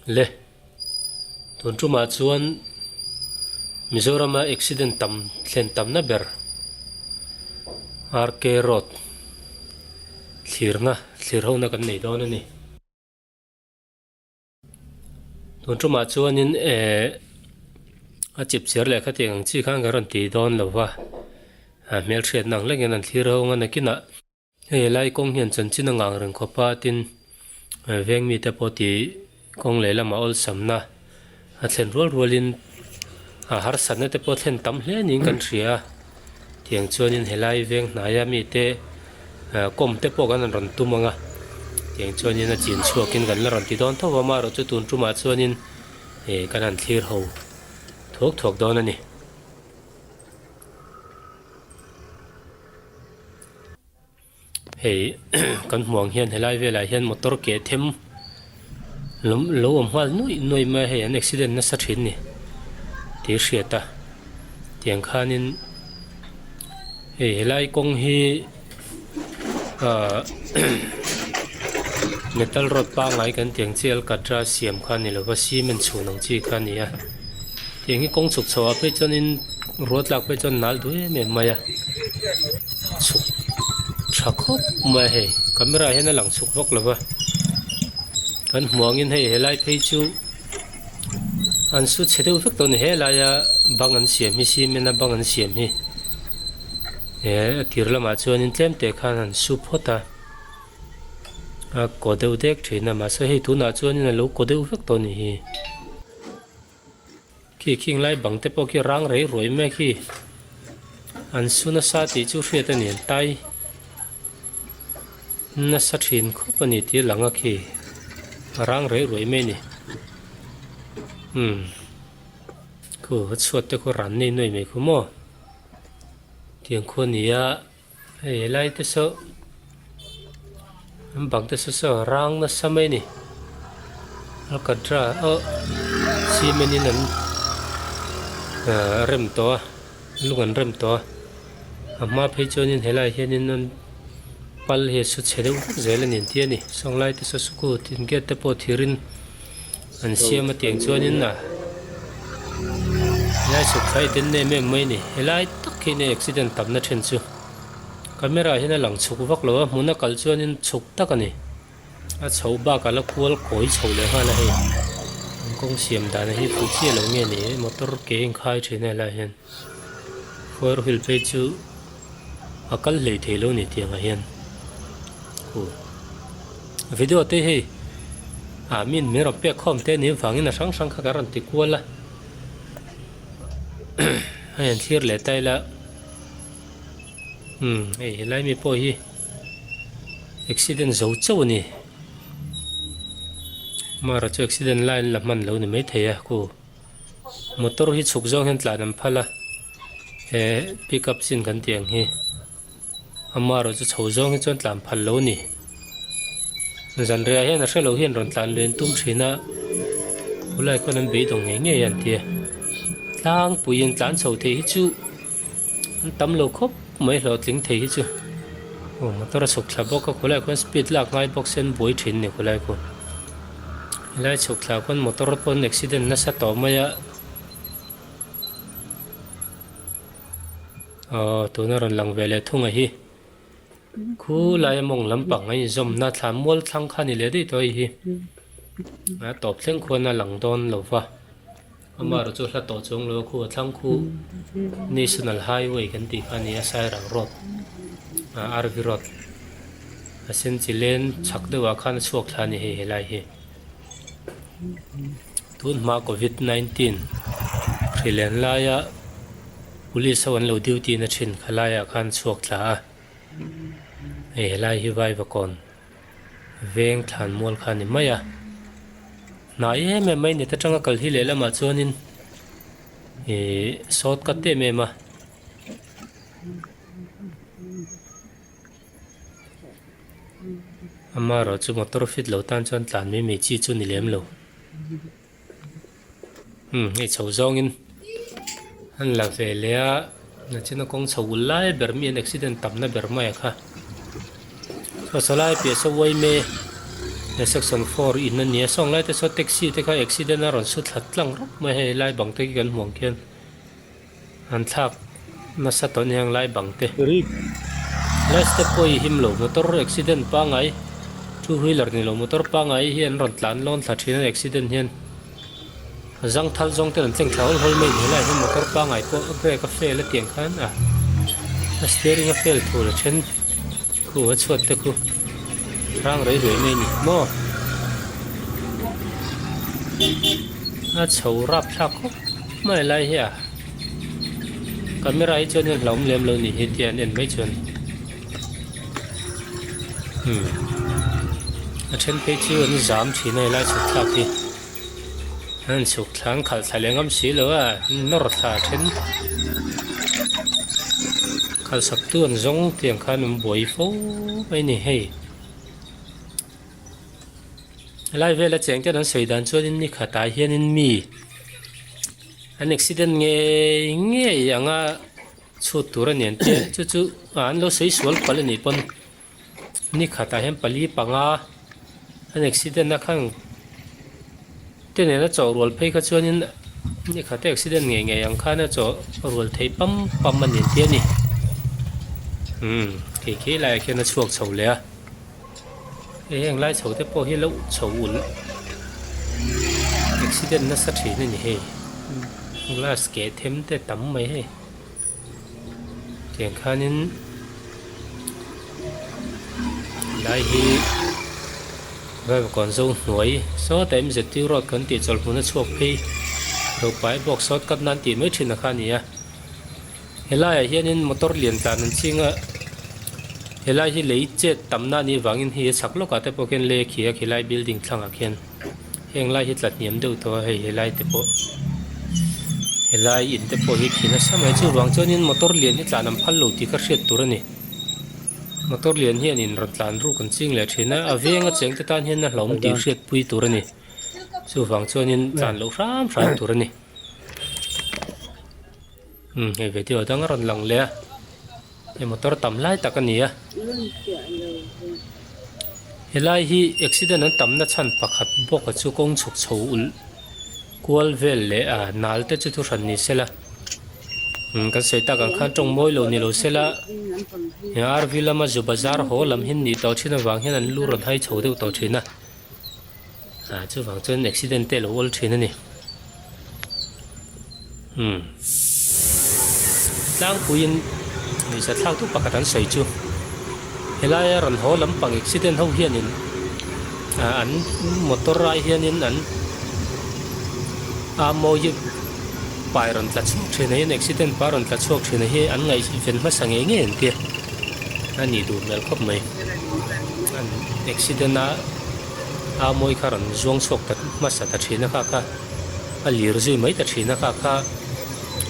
le tun tumah chuan Mizoram a accident tam thlen tam na ber RK road thlir na thlir ho na kan nei dawn a ni tun tumah chuan in eh a chip chhir leh kha tih ang chi khan kan rawn ti dawn lo va a hmel hriat na ang lek in an thlir ho ang a nakin ah Hei helai kawng hian chanchin a ngang reng khawp a, tin, veng mite pawh ti kawng lehlamah awlsamna a thlen rual rualin harsatna te pawh thlen tam hle niin kan hria a, tiang chuanin helai veng hnaia mite kawm te pawh kan rawn tum ang a, tiang chuanin a chin chhuakin kan la rawn ti dawn tho a, mah erawh chu tun tumah chuanin kan han thlir ho thuak thuak dawn a ni. hei kan hmuh ang hian helai velah hian motor ke them lom lo awm nghal nuaih nuaih mai a hei an accident nasa thin ni tih a hriat a tiang khanin hei helai kawng hi ahh metal rod pangngai kan tih ang chiang a katra siam kha a ni lova cement chhun ang chi kha a ni a. eng hi kawng chhuk chhoh ah phei chuan in rua tlak phei chuan nal duh em em mai a chhuk tha khawp mai a hei camera ah hian a lang chhuk vak lo va kan hmuh ang in hei he lai phei chu an su chhe deuh vek tawh a ni he lai a bang an siam hi cement a bang an siam hi eh a kir lam ah chuan in tlem teh khan an su phawt a a kaw deuh dek thin a mahse hei tun ah chuan in a lo kaw deuh vek tawh a ni hi. khi khing lai bang te pawh khi rang rei ruai mek hi an su nasa tih chu hriat a ni an tai nasa thin khawp a ni tih a lang a khi rang rei ruai mai ni hmm khu chhuat te khaw ran nei nuai mai khaw maw tiang khaw nia Hei helai te saw an bang te saw saw rang nasa mai ni alcatra oh cement in an rem tawh a lung an rem tawh a a hma phei chuan in helai hianin an pal hi a su chhe deuh zel a ni ang chian a ni sawnglai te saw sukut in gate te pawh thir in-- An siam atiang chuanin na helai sawkphah hi den nem em mai ni. Helai tak hi nen accident tamna then chu camera hian a lang chhuk vak lo a, hmuna kal chuanin chhuk tak a ni. A chho bakah la kual kawi chho leh nghal a hei. An kawng siam dan a hi pui chiah lo nge ni motor ke inkhai thin a helai hian. Khuaru hil phei chu a kal hlei thei lo ni tiangah hian u video te hei ah min min rawn pek khawm te nih vangin a hrang hrang kha kan rawn ti kual a hei an thlir leh ta ila umm hei helai mi pawh hi accident zo chauh a ni mahra chu accident line la hman lo ni maithei a ku. Motor hi chhuk zawng hian tlan an phal a, he pickup chin kan tih ang hi ama erawh chu chho zawng hi chuan tlan phal lo ni. Zanriah hian a hre lo hian rawn tlan len tum thin a, khulai khawn an beidawng ngei ngei a an ti a, tlangpuiin tlan chho theih hi chu. an tam lo khawp mai hlawh tling thei hi chu aw motor a chhuk thla bawk a khawlai khawn speed lak nghal bawk se an buai thin a ni khawlai khawn helai chhuk thla khawn motor pawn accident nasa tawh mai a aw tuna rawn lang ve leh thung ah hi. Khu laia mawng lam pangngai inzawmna thlan mual thlang kha ni leh daih tawh a hi. A tawp thleng khuan a lang dawn lo va. Amaherawh chu hla tawh chuang lo a khu a thlang khu National Highway kan tih kha a ni a, Sairang Road ah Arvi Road a sen chi len chak deuh ah khan a chhuak thla a ni hei helai hi. Tun hma Covid nineteen hrilen laia Police ho an lo duty na thin kha laiah khan a chhuak thla a. hei helai hi vai vakawn veng thlan mual kha ni mai a hnai em em mai ni ta tang a kal hi leh lamah chuanin ih sawt cut em em a amarawh chu motor fit loh tan chuan tlan mai mai chi chu ni lem lo. Umm hei chho zawngin an la ve leh a, nachina kawng chho ul lai ber miin accident tamna ber mai a kha. Hrosalai piahso Uaime he section four in a nia, sawn laite saw taxi te kha accident a rawn su thla tlang rawp mai a hei lai bang te hi kan hmuh ang khian. An thlak nasa tawn heng lai bang te. Rik. Helai step pawhi him lo motor accident pangai two wheeler ni lo motor pangai hi an rawn tlan lawn thla thin a accident hian zang thal zawng ten an tleng thla hawl hawl mai hle lai hian motor pangai pawh brake a fail atiang khan a a steering a fail thu la then. Khu a chhuat te khu hrang rei ruai mai ni maw? A chho rap thlak khawp mai lai hi a. Camera hi chuan en hlauhawm lem lo ni hi tia an en mai chuan. Hmm. A then phei chu an zam thin a helai chhuk thlak hi. An suk thla an khalh thla leh ngam si lo a, an nawr thla a then. Khalhsaktu an zawng tih ang khan awm buai fo mai a ni hei. Helai vela chengten an sawi dan chuan in ni khatah hian in mi an accident ngei ngei anga chhut tur a nen tih chu chu an lo sawi sual pal a nih pawn. ni khatah hian pali panga an accident a khang te nena chawh rual phei kha chuanin ni khata accident ngei ngei ang khana chawh rual thei pam pam a ni entia ni umm khei khei laiah khian a chhuak chho leh a hei heng lai chho te pawh hi loh chho ulh accident nasa thin a ni hei glass keh them te tam mai hei. Tiang khanin helai hi Vaivakuan zong hnuai sawta MZ Tui Road kan tih chawlhmuna chhuak phei lo pai bawk sawt kat nan tih mai thin a kha a ni a, helaiah hianin motor lian tlan an ching a, helai hi lei chet tam na nih vangin hei a chak lawkah te pawh khian lei a khi a, khilai building thlangah khian. heng lai hi tla hniam deuh tawh a hei he lai te pawh he lai in te pawh hi khi nasa mai chu vang chuan in motor lian hi tlan an phal lo tih ka hriat tur a ni motor lian hian in rawn tlan ruk an ching leh thin a a veng a cheng te tan hian a hlawm tih hriat pui tur a ni chu vang chuan in tlan loh hram hram tur a ni. Umm hei video a dang a rawn lang leh a hei motor tam lai tak a ni a helai hi accident an tam na chhan pakhat bawk a chu kawng chhuk chho ulh kual vel leh a nal te chu thu hran ni se la umm kan sawi tak ang khan tawng mawi lo ni lo se la he rv lama zu bazar haw lam hi an nih tawh thin avang hian an lu rawn hai chho deuh tawh thin a. Aa chuvang chuan accident te lo awl thin a ni. Umm. Tlangpuiin hmeichhe thlak duh pakhat an sawi chu helaia rawn haw lampang accident ho hianin ah an motor rai hianin an a mawi hi pai rawn tla chhuak thin aiin accident pa rawn tla chhuak thin a hi an ngaihven hmasa ngei ngei ang tia a nih duh hmel khawp mai an accident a-- a mawi kha rawn zuang chhuak ta hmasa ta thin a kha kha a lir zui mai ta thin a kha kha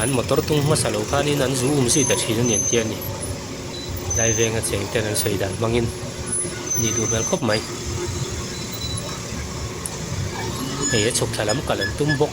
an motor tung hmasa lo khanin an zu um zui ta thin a ni ang chian ni laivenga cheng ten an sawi dan hmangin ni duh hmel khawp mai hei a chhuk thla lam kalh an tum bawk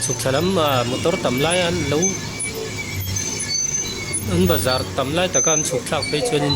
chhuk thla lam a motor tam lai an lo an bazar tam lai taka an chhuk thlak phei chuanin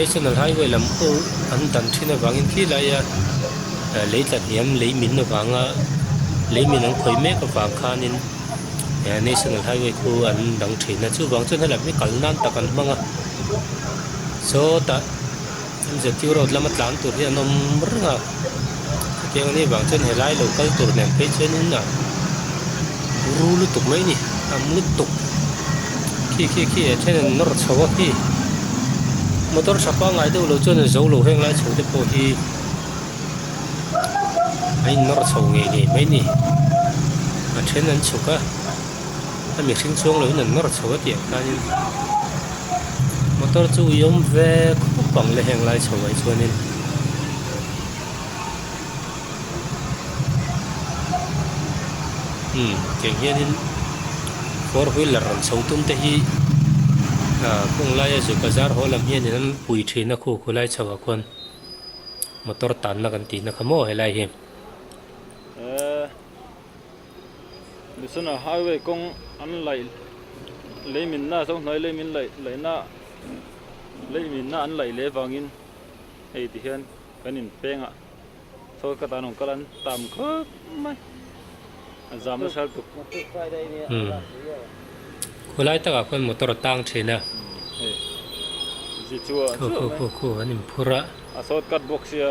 National Highway lam pawh an dan thin avangin khi laia lei tla hniam lei min avanga lei min an khawih mek avang khanin National Highway khu an dang thin a chuvang chuan hela hi kal nan tak an hmang a sawtah MZU road lama tlan tur hi an awm reng a. hetiang ani avang chuan helai lo kal tur nen phei chuan in a ru lutuk mai a ni a ang lutuk khi khi khi a then an nawr chho a khi motor tha pa ngai deuh lo chuan a zo lo heng lai chho te pawh hi a in nawr chho ngei ngei mai a ni a then an chhuk a. a mihring chuang lo in an mar chho a tih ah khianin motor chu ui awm vek khawp ang la heng lai chho mai chuanin imm keng hianin four wheeler rawn chho tum te hi ah kawng laia zu bazar haw lam hian in an pui thin a khu khu lai chho ah khawn motor tan na kan tih na kha maw helai hi. Bisana Highway kawng an laih leiminna zohnuai leimin laih laihna leiminna an laih leh vangin hei ti hian kan in peng a chhawi kata an awm kal an tam khawp mai a zam na hrel tuk khulai taka khawn motor a tang thin a khu khu khu khu an in phur a a sawt cut bawk sia.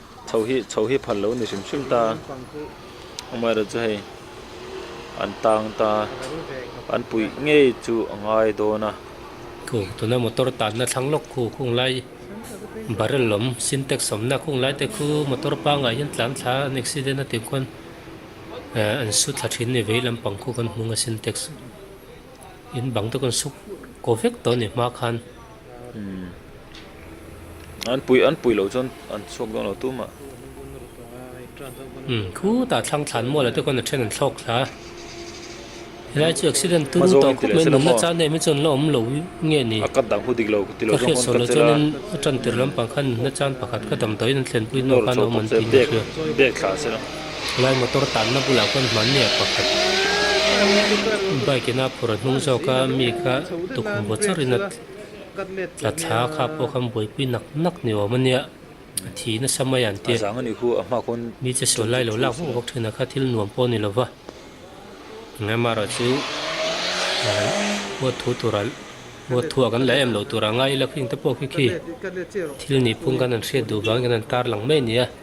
Chho hi chho hi phal lo ni hrim hrim ta amaherawh chu hei an tang ta an puih ngei chu a ngai dawn a. Thu tuna motor tanna thlang lawk khu khung lai barrel lawm sintex sawmna khung lai te khu motor pangai hian tlan thla an accident a tih khawn an su thla thin a ni vei lampang khu kan hmung a sintex in bang te kawn suk kaw vek tawh a ni hma khan. An pui an pui lo chuan an chhuak dawn lo tum a. Umm khutah thlang thlan mual ah te khawn a then an thlawk thla a. Helai chu accident tu ru tawh khawp mai a nunna chang deuh mai chuan la awm lo nge ni? Ka hriat sual lo chuanin a tantir lampang khan nunna chang pakhat ka damdawiin an thlenpui hnu khan a awm an tih hmel hliam. Helai motor tanna bulah khuan hmanniah pakhat bike ina phur a hnung zawk a, mi kha tukhum vawt zar in a tla thla a kha pawh khan buaipui nak nak ni awm a nia, a thi nasa mai ang tia mi che sawi lai lo lak vawk vawk thin a kha thil nuam pawh a ni lova, engah marawh chu huat thu tur ah huat thu ah kan la em lo tur ah ngai ila khing te pawh khi khi thil nihphung khan an hriat duh vang in an tarlang mai a nia.